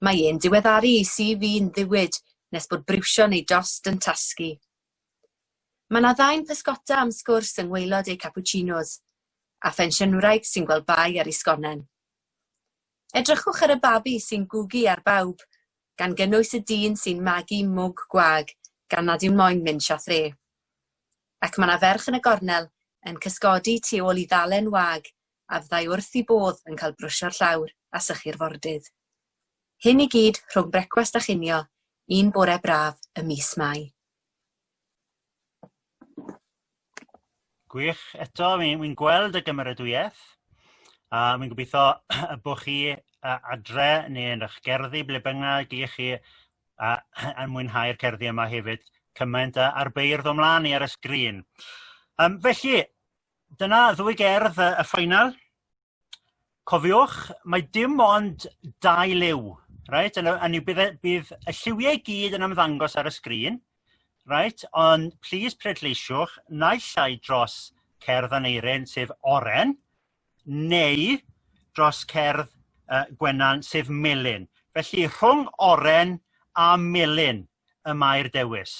Mae e'n diweddaru i CV'n ddiwyd nes bod briwsio neu dost yn tasgu. Mae yna ddau'n pysgota am sgwrs yng ngwaelod eu cappuccinos, a phensiynwraig sy'n gweld bai ar ei sgonen. Edrychwch ar y babi sy'n gwgu ar bawb, gan gynnwys y dyn sy'n magu mwg gwag gan nad yw'n moyn mynd siâp dde. Ac mae 'na ferch yn y gornel yn cysgodi tu ôl i ddalen wag a fyddai wrth i bodd yn cael brwsio'r llawr a sychu'r fordydd. Hyn i gyd rhwng brecwast a chinio un bore braf ym mis Mai. Gwych eto fi'n fi'n gweld y gymeradwyaeth a fi'n gobitho y bo' chi yy adre neu yn 'ych gerddi ble bynnag i chi yy yn mwynhau'r cerddi yma hefyd cymaint â a'r beirdd o mlan i ar y sgrîn. Yym felly dyna ddwy gerdd yy y final Cofiwch mae dim ond dau liw reit a n'w bydd e bydd y lliwie i gyd yn ymddangos ar y sgrin reit ond plîs pleidleisiwch naill ai dros cerdd Aneurin sef oren neu dros cerdd yy Gwenan sef melyn felly rhwng oren a melyn y mae'r dewis.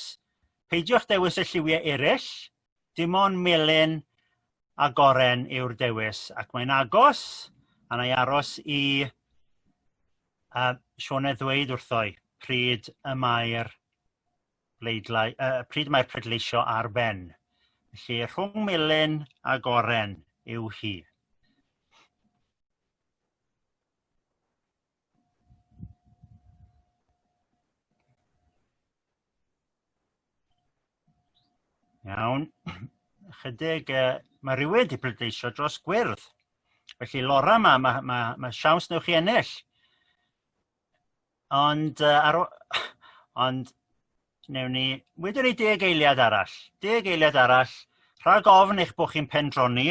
Peidiwch dewis y lliwie erill Dim ond melyn a goren yw'r dewis ac mae'n agos a na'i aros i a Siôn ddweud wrtho i pryd y mae'r bleidlai- y pryd mae pleidleisio ar ben. Felly rhwng melyn a goren yw hi. Iawn chydig yy ma' rywun 'di pleidleisio dros gwyrdd felly Laura ma' ma' ma' ma' siawns 'newn chi ennill ond yy ar ôl ond newn ni wedwn ni deg eiliad arall deg eiliad arall rhag ofn eich bod chi'n pendroni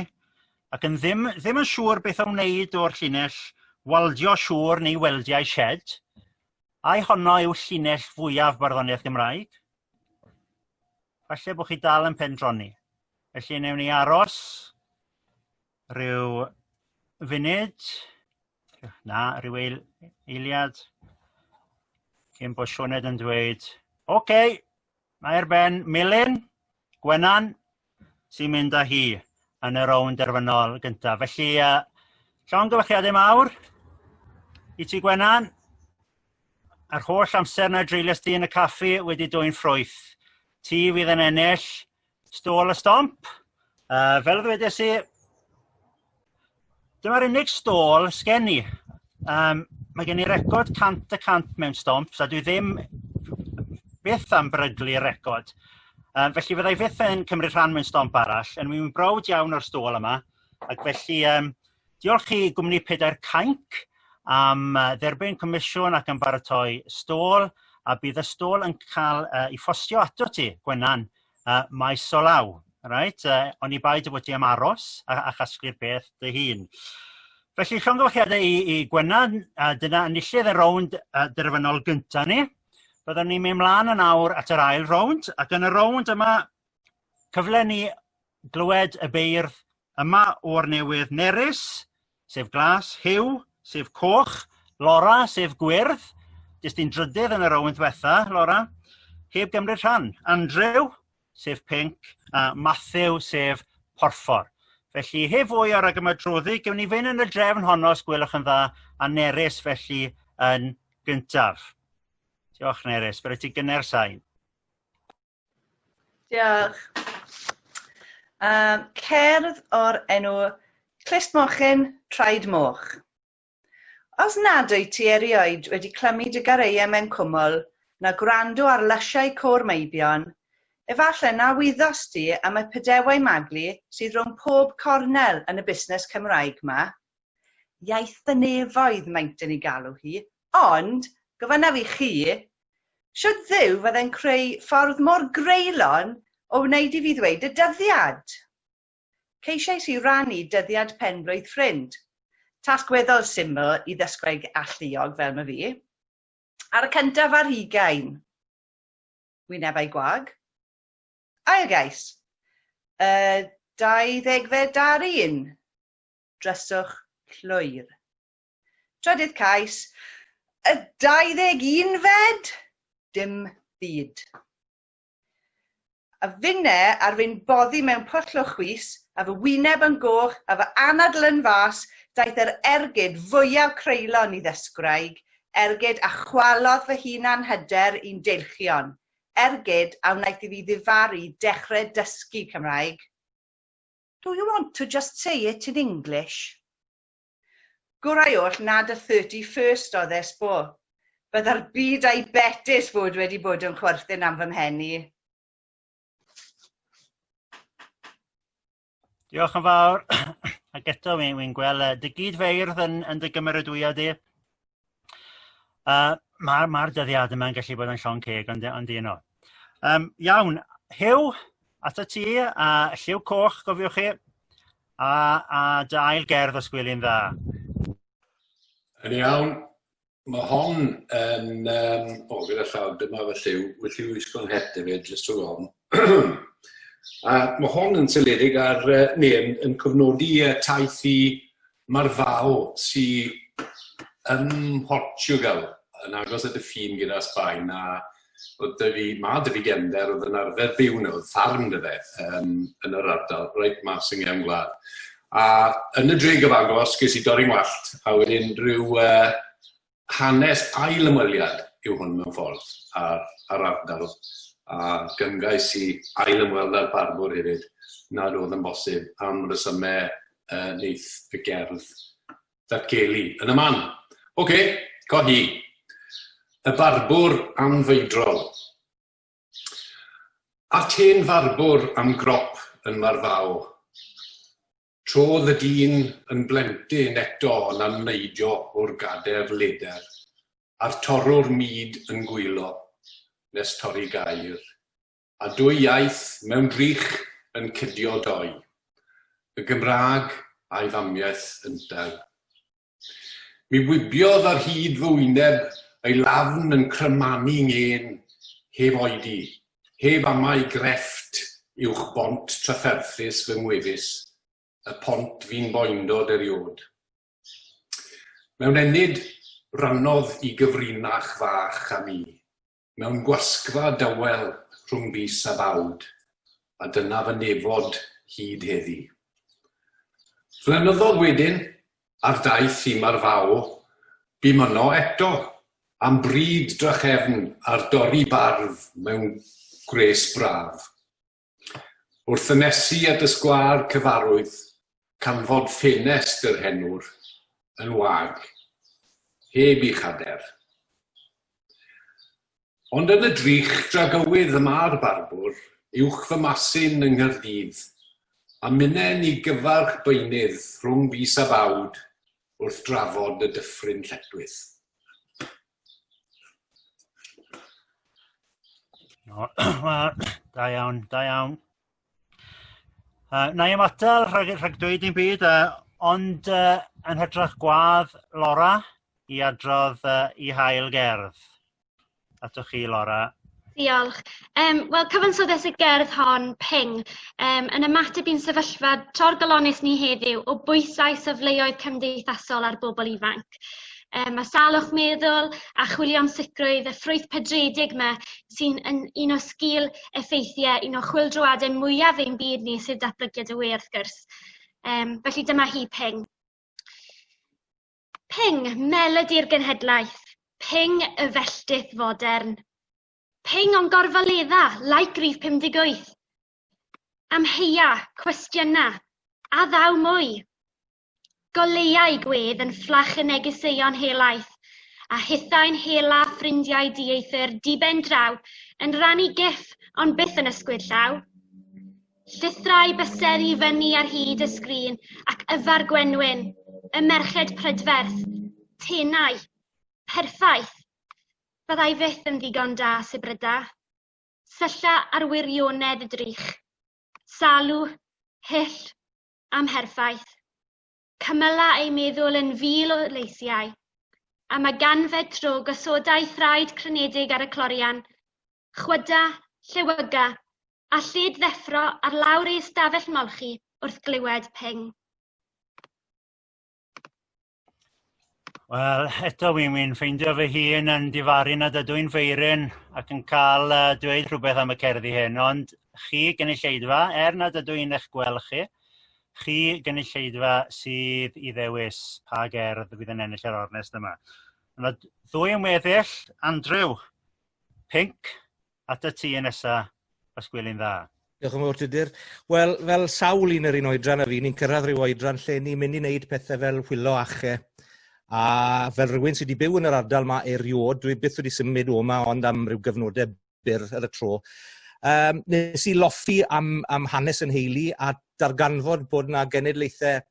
ac yn ddim ddim yn siŵr beth a wneud o'r llinell waldio siŵr neu weldiau shed ai honno yw llinell fwyaf barddoniaeth Gymraeg? Falle bod chi dal yn pendroni. Felly newn ni aros Rhyw funud na ryw eil- eiliad cyn bod Sioned yn dweud ok mae ar ben melyn Gwenan sy'n mynd â hi yn y rownd derfynol gyntaf felly yy llongyfarchiade mawr i ti Gwenan yr holl amser na dreulies di yn y caffi wedi dwyn ffrwyth ti fydd yn ennill Stôl y stomp yy fel ddwedes i dyma'r unig stôl sgen i yym mae gen i record cant y cant mewn stomps a dwi ddim byth am beryglu record yy felly fyddai fyth yn cymryd rhan mewn stomp arall a wi'n browd iawn o'r stôl yma ac felly yym Diolch i gwmni Pedair Cainc am dderbyn comisiwn ac am baratoi stôl a bydd y stôl yn cael uh, ei ffostio ato ti Gwenan uh, maes o law reit uh, oni bai dy fod ti am aros a, a chasglu'r peth dy hun felly llongyfachiadau i, i Gwenan a dyna enillydd y rownd uh, derfynol gynta ni byddwn ni'n mynd mlaen yn awr at yr ail rownd ac yn y rownd yma cyfle ni glywed y beirdd Yma o'r newydd nerys sef glas, Huw sef coch, Lora sef gwyrdd jest un drydydd yn y rownd ddwetha' Lora heb gymryd rhan, Andrew sef pinc a Mathew sef porffor. Felly heb fwy o ragymadroddi gewn ni fyn' yn y drefn honno os gwelwch yn dda a Nerys felly yn gyntaf. Diolch Nerys bore ti gynner sain. Diolch. Um, cerdd o'r enw Clust Mochyn, Traed Moch. Os nad wyt ti erioed wedi clymu dy gareiau mewn cwmwl, na gwrando ar lysiau côr Meibion, efallai na wyddost ti am y pedewau maglu sydd rhwng pob cornel yn y busnes Cymraeg ma. Iaith fy nefoedd maent yn ei galw hi, Ond, gofynnaf i chi, shwt Dduw fydde'n creu ffordd mor greulon o wneud i fi ddweud y dyddiad? Ceisiais i rannu dyddiad pen-blwydd ffrind, tasg weddol syml i ddysgwraig alluog fel ma' fi, ar y cyntaf ar hugain. Wynebau gwag. Ail gais, y dau ddegfed ar un. Dryswch llwyr. Trydydd cais, Y 21 fed! Dim byd. A finne ar fin boddi mewn pwll o chwys, a fy wyneb yn goch, a fy anadl yn fas, daeth yr ergyd fwyaf creulon i ddesgwraig, ergyd a chwalodd fy hunan-hyder i'n deilchion, ergyd a wnaeth i fi ddifaru dechre dysgu Cymraeg. Do you want to just say it in English? Gorau oll nad y thirty first oedd e, s'bo. Bydda'r byd a'i betys fod wedi bod yn chwerthin am fy mhen i. Diolch yn fawr ac eto wi'n gweld y dy gyd-feirdd yn yn dy gymeradwyo di. Yy ma'r ma'r dyddiad yma'n gallu bod yn llon' ceg ond ond y'know. Yym iawn Huw atat ti a Lliw Coch cofiwch chi a a dy ail gerdd os gweli'n dda. Yn iawn ma' hon yn yym o gyda llaw dyma fy lliw fy lliw wisgo'n het efyd jyst rhwng ofn. a ma' hon yn seiliedig ar yy neu yn yn cofnodi yy taith i Mae'r Vao, sydd ym Mhortiwgal, yn agos at y ffin gyda Sbaen, a oedd 'da fi... ma' 'da fi gefnder oedd yn arfer byw 'na, oedd ffarm 'da fe yym yn yr ardal reit mas yng nghefn gwlad. A yn y dre gyfagos ges i dorri 'ngwallt a wedyn ryw yy Hanes ail-ymweliad yw hwn mewn ffordd ar ar ardal a gymgais i ail-ymweld â'r barddwr hefyd nad oedd yn bosib am resymau y neith y gerdd ddatgelu yn y man. Ocê, co hi. Y barbwr anfeidrol. At hen farbwr am grop yn Marfao. Trodd y dyn yn blentyn eto yn amneidio o'r gader leder, a'r torrwr mud yn gwylo, nes torri gair, a dwy iaith mewn drych yn cydio doi, y Gymraeg a'i famiaith yntau. Mi wibiodd ar hyd fy wyneb, ei lafn yn crymanu ngên, heb oedi, heb amau grefft uwch bont trafferthus fy ngwefus, y pont fu'n boendod eriôd. Mewn ennyd, rannodd i gyfrinach fach â mi. mewn gwasgfa dawel rhwng fis a bawd, a dyna fy nefod hyd heddi. Flynyddodd wedyn, ar daith i Marfao, bum yno eto, am bryd drachefn ar dorri barf mewn gwres braf. Wrth ynesu at y sgwâr cyfarwydd, canfod ffenest yr henwr, yn wag, heb i chader. Ond yn y drych dragywydd y mae'r barbwr, uwch fy masyn yng Nghaerdydd, a mynen i gyfarch beunydd rhwng fis a bawd wrth drafod y dyffryn lletwyth. No, da iawn, da iawn. Uh, na i ymatal rhag, rhag dweud i'n byd, uh, ond uh, yn hytrach gwadd Laura i adrodd uh, i hael gerdd. Atoch chi, Laura. Diolch. Yym wel cyfansoddes y gerdd hon ping yym yn ymateb i'n sefyllfa torgalones ni heddiw o bwysau safleoedd cymdeithasol ar bobl ifanc. Yym mae salwch meddwl a chwilio'n sicrwydd y ffrwyth pedredig yma sy'n yn un o sgil effeithiau un o chwildroadau mwyaf ein byd ni sydd datblygiad y we wrth gwrs. Yym felly dyma hi ping. Ping, melodi'r genhedlaeth, ping y felltith fodern. Ping o'n gorfaledda, like rif 58. Amheia, cwestiyna, a ddaw mwy. Goleiau gwedd yn fflach y negeseuon helaeth, a hithau'n hela ffrindiau dieithr diben draw yn rannu gif ond byth yn ysgwyd llaw. Llithrai bysedd i fyny ar hyd y sgrin ac yfa'r gwenwyn, y merched prydferth, tenau. Perffaith! Fyddai fyth yn ddigon da, Subryda. Sylla ar wirionedd y drych. Salw, hyll, amherffaith. Cymyla ei meddwl yn fil o leisiau. Am y ganfed tro gosodai thraed crynedig ar y clorian, chwyda, llewyga, a llid ddeffro ar lawr ei ystafell molchi wrth glywed ping. Wel, eto wi'n mynd ffeindio fy hun yn difaru nad ydw i'n feiryn ac yn cael uh, dweud rhywbeth am y cerddi hyn, ond chi gynulleidfa, er nad ydw i'n eich gweld chi, chi gynulleidfa sydd i ddewis pa gerdd fydd yn ennill yr ornest yma. Yna ddwy ymweddill, Andrew, Pinc, at y ti yn nesa, os gwelin dda. Diolch yn fawr, Tudur. Wel, fel sawl un yr un oedran a fi, ni'n cyrraedd rhyw oedran lle ni'n mynd i wneud pethau fel hwyllo ache. A fel rhywun sydd wedi byw yn yr ardal yma erioed, dwi byth wedi symud o yma ond am rhyw gyfnodau byr ar y tro. Um, nes i loffi am, am hanes yn heili a darganfod bod yna genedlaethau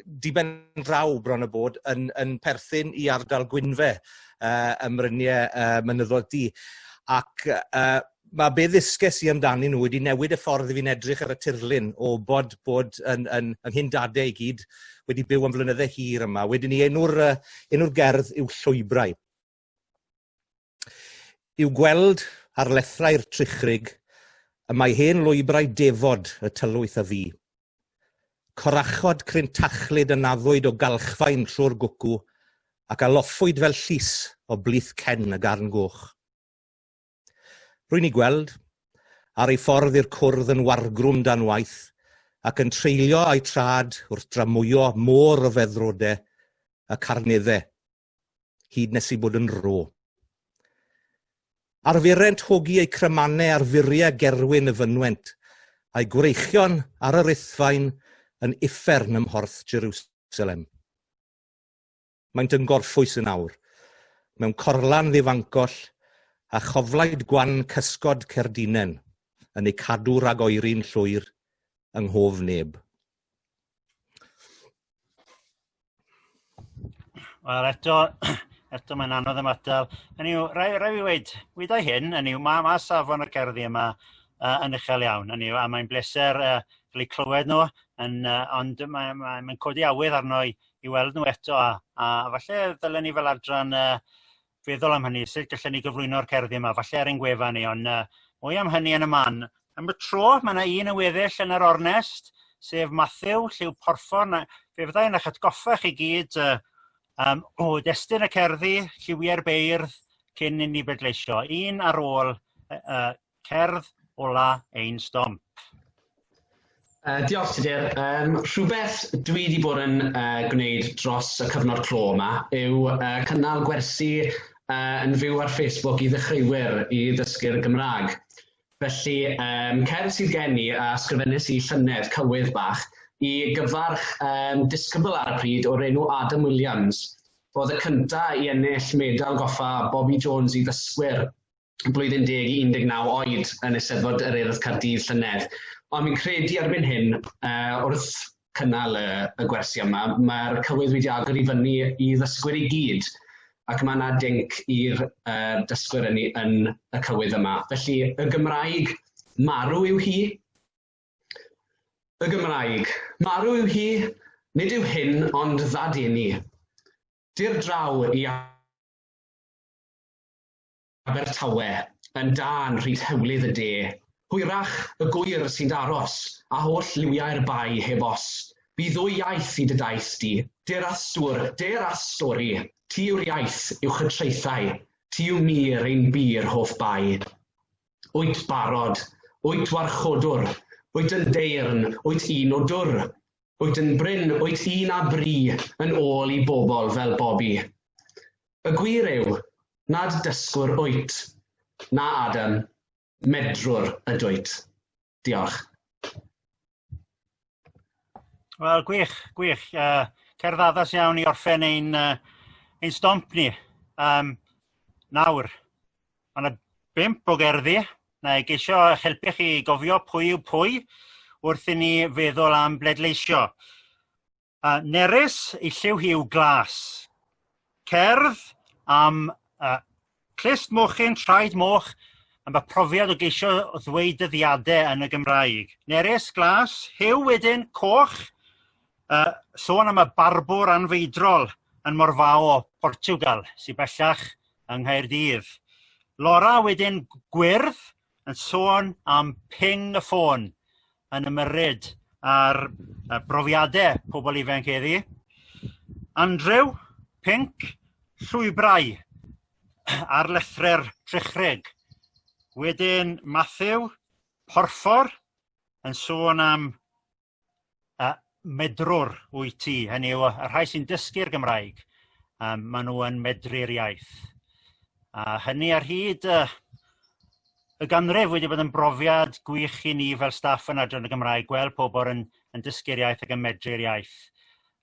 diben draw bron y bod yn, yn perthyn i ardal Gwynfe uh, ym Mryniau uh, Mynyddoedd Di. Ac uh, mae be ddysges i amdani nhw wedi newid y ffordd i fi'n edrych ar y tirlun o bod bod yn, yn, yn hyn dadau i gyd wedi byw am flynyddau hir yma. Wedyn ni enw'r uh, enw gerdd yw Llwybrau. I'w gweld ar lethrau'r trichrig y mae hen lwybrau defod y tylwyth a fu. Corachod cryn tachlyd y naddwyd o galchfaen trwy'r gwcw, ac a loffwyd fel llys o blith cen y garn goch. Rwy'n ei gweld, ar ei ffordd i'r cwrdd yn wargrwm dan waith, ac yn treulio a'i trad wrth dramwyo môr o feddrode y carnedde hyd nes i bod yn ro. Arfurent hogi eu crymannau ar furiau gerwyn y fynwent, a'i gwreichion ar yr ithfaen yn uffern ym mhorth Jerusalem. Maent yn gorffwys yn awr, mewn corlan ddifangoll a choflaid gwan cysgod cerdinen yn eu cadw rhag oeri'n llwyr yng nghof neb. Wel eto eto mae'n anodd ymatal. Hynny yw rai rai fi weud wydai hyn hynny yw ma' ma' safon y cerddi yma yy yn uchel iawn hynny yw a mae'n bleser yy cael eu clywed n'w yn yy ond mae mae mae'n codi awydd arno i i weld n'w eto a a falle ddylen ni fel adran yy feddwl am hynny sut gallwn ni gyflwyno'r cerddi 'ma falle ar ein gwefan ni ond yy mwy am hynny yn y man. Am y tro mae 'na un yn weddill yn yr ornest sef Mathew Lliw Porffor a fe fyddai yn eich atgoffa chi gyd yy yym o destun y cerddi lliwie'r beirdd cyn inni bleidleisio un ar ôl y y cerdd ola ein stomp. Uh, diolch Tudur. Um, rhywbeth dwi wedi bod yn uh, gwneud dros y cyfnod clo yma yw uh, cynnal gwersi uh, yn fyw ar Facebook i ddechreuwyr i ddysgu'r Gymraeg. Felly, um, cerdd sydd gen i a sgrifennes i llynedd cywydd bach i gyfarch um, disgybl ar y pryd o'r enw Adam Williams. Oedd y cyntaf i ennill medal goffa Bobby Jones i ddysgwyr blwyddyn deg i 19 oed yn Eisteddfod yr Urdd Caerdydd llynedd. Ond mi'n credu erbyn hyn, uh, wrth cynnal y, y gwersi yma, mae'r cywydd wedi agor i fyny i ddysgwyr i gyd, ac mae yna dinc i'r uh, dysgwyr yn, yn y cywydd yma. Felly, y Gymraeg marw yw hi. Y Gymraeg marw yw hi, nid yw hyn ond ddad i ni. Dir draw i Abertawe, yn dân rhyd hewlydd y de. Hwyrach y gŵyr sy'n d'aros, a holl liwiau'r bae heb os. Bu ddwy iaith i dy daith di. Dur a stwr, dur a stori. Ti yw'r iaith, uwch y traethau. Ti yw mir ein bur hoff bae. Wyt barod, wyt warchodwr, wyt yn deyrn, wyt un o dwr. Wyt yn brin, wyt un â bri, yn ôl i bobl fel Bobi. Y gwir yw, nad dysgwr wyt, na Adam, medrwr ydwyt. Diolch. Wel, gwych, gwych. Uh, cerdd addas iawn i orffen ein, uh, ein stomp ni. Um, nawr, mae yna bimp o gerddi. Na i geisio eich helpu chi gofio pwy yw pwy wrth i ni feddwl am bledleisio. Yy nerys ei lliw hi yw glas. Cerdd am yy clust mochyn traed moch am y profiad o geisio ddweud dyddiade yn y Gymraeg. Nerys, glas, huw wedyn, coch, yy sôn am y barbwr anfeidrol yn Morfaho, Portiwgal sy bellach yng Nghaerdydd. Lora wedyn gwyrdd yn sôn am ping y ffôn yn ymyrryd ar y brofiade pobl ifanc heddi. Andrew, pink, llwybrau ar lethre'r trechreg. Wedyn Matthew, porffor, yn sôn am y medrwr wyt ti hynny yw y rhai sy'n dysgu'r Gymraeg yym ma' n'w yn medru'r iaith a hynny ar hyd y y ganrif wedi bod yn brofiad gwych i ni fel staff yn Adran y Gymraeg gweld pobol yn yn dysgu'r iaith ag yn medru'r iaith.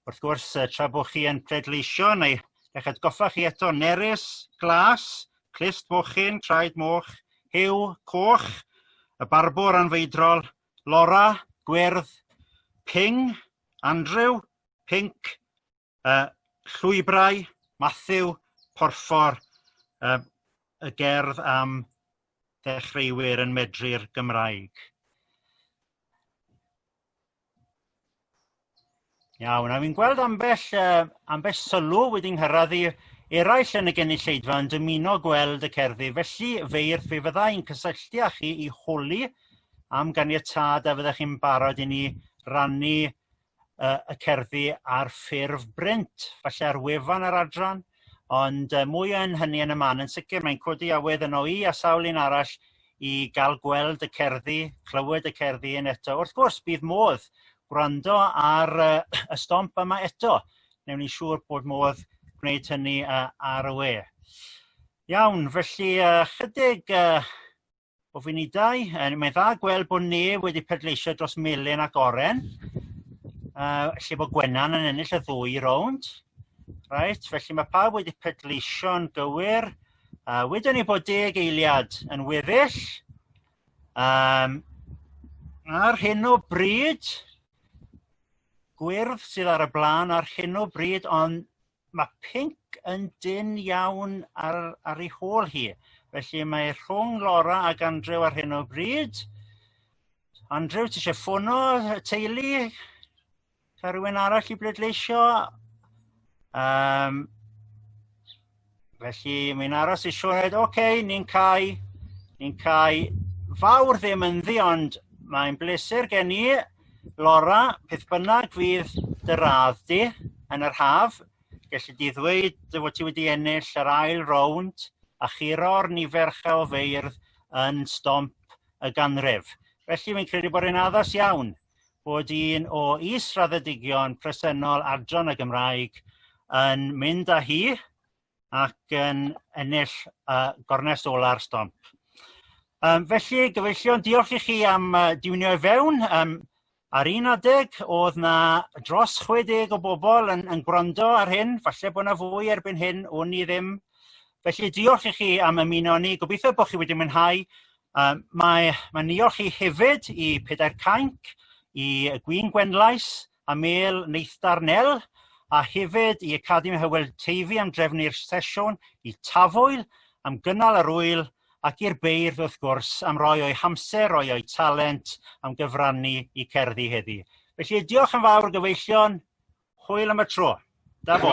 Wrth gwrs tra bo' chi yn pleidleisio neu eich atgoffa chi eto nerys, glas, clust mochyn, traed moch, huw, coch, y barbwr anfeidrol Laura, gwyrdd, ping, Andrew, pinc, y llwybrau, Matthew, porffor, y, y gerdd am ddechreuwyr yn medru'r Gymraeg. Iawn, a fi'n gweld ambell yy ambell sylw wedi nghyrradd i eraill yn y gynulleidfa yn dymuno gweld y cerddi felly feirdd fe fydda i'n cysylltu â chi i holi am ganiatâd a fyddech chi'n barod i ni rannu yy y cerddi ar ffurf brint falle ar wefan yr adran ond yy mwy yn hynny yn y man yn sicr mae'n codi awydd yno i a sawl un arall i ga'l gweld y cerddi clywed y cerddi un eto wrth gwrs bydd modd gwrando ar y y stomp yma eto newn ni siŵr bod modd gwneud hynny yy ar y we. Iawn felly yy chydig yy o funudau yy mae'n dda gweld bod neb wedi pleidleisio dros Melin ac Oren yy lle bod Gwenan yn ennill y ddwy rownd. Reit felly mae pawb wedi pleidleisio'n gywir. yy wedwn ni bod deg eiliad yn weddill yym ar hyn o bryd gwyrdd sydd ar y bla'n ar hyn o bryd ond ma' pinc yn dynn iawn ar ar ei hôl hi felly mae rhwng Lora ac Andrew ar hyn o bryd. Andrew ti isie ffono y teulu? 'Sa rhywun arall i bleidleisio? Yym felly mae'n aros i Sioed ok ni'n cau ni'n cau fawr ddim ynddi ond mae'n bleser gen i Lora beth bynnag fydd dy radd di yn yr haf gelli di ddweud dy fod ti wedi ennill yr ail rownd a churo'r nifer uchelfeirdd yn stomp y ganrif. Felly fi'n credu bod e'n addas iawn bod un o is-raddedigion presennol Adran y Gymraeg yn mynd â hi ac yn ennill yy gornest ola'r stomp. Um, felly gyfeillion diolch i chi am uh, diwnio i fewn um, Ar un adeg oedd na dros 60 o bobl yn, yn gwrando ar hyn, falle bod na fwy erbyn hyn, wn i ddim. Felly diolch i chi am ymuno ni, gobeithio bod chi wedi mwynhau Yy mae mae'n niolch i hefyd i Pedair Cainc i y Gwin Gwenlais a Mêl Neithdar Nel a hefyd i Academi Hywel Teifi am drefnu'r sesiwn, i Tafwyl am gynnal yr ŵyl ac i'r beirdd wrth gwrs am roi o'u hamser, roi o'u talent am gyfrannu i cerddi heddi. Felly diolch yn fawr gyfeillion, hwyl am y tro. Da bo.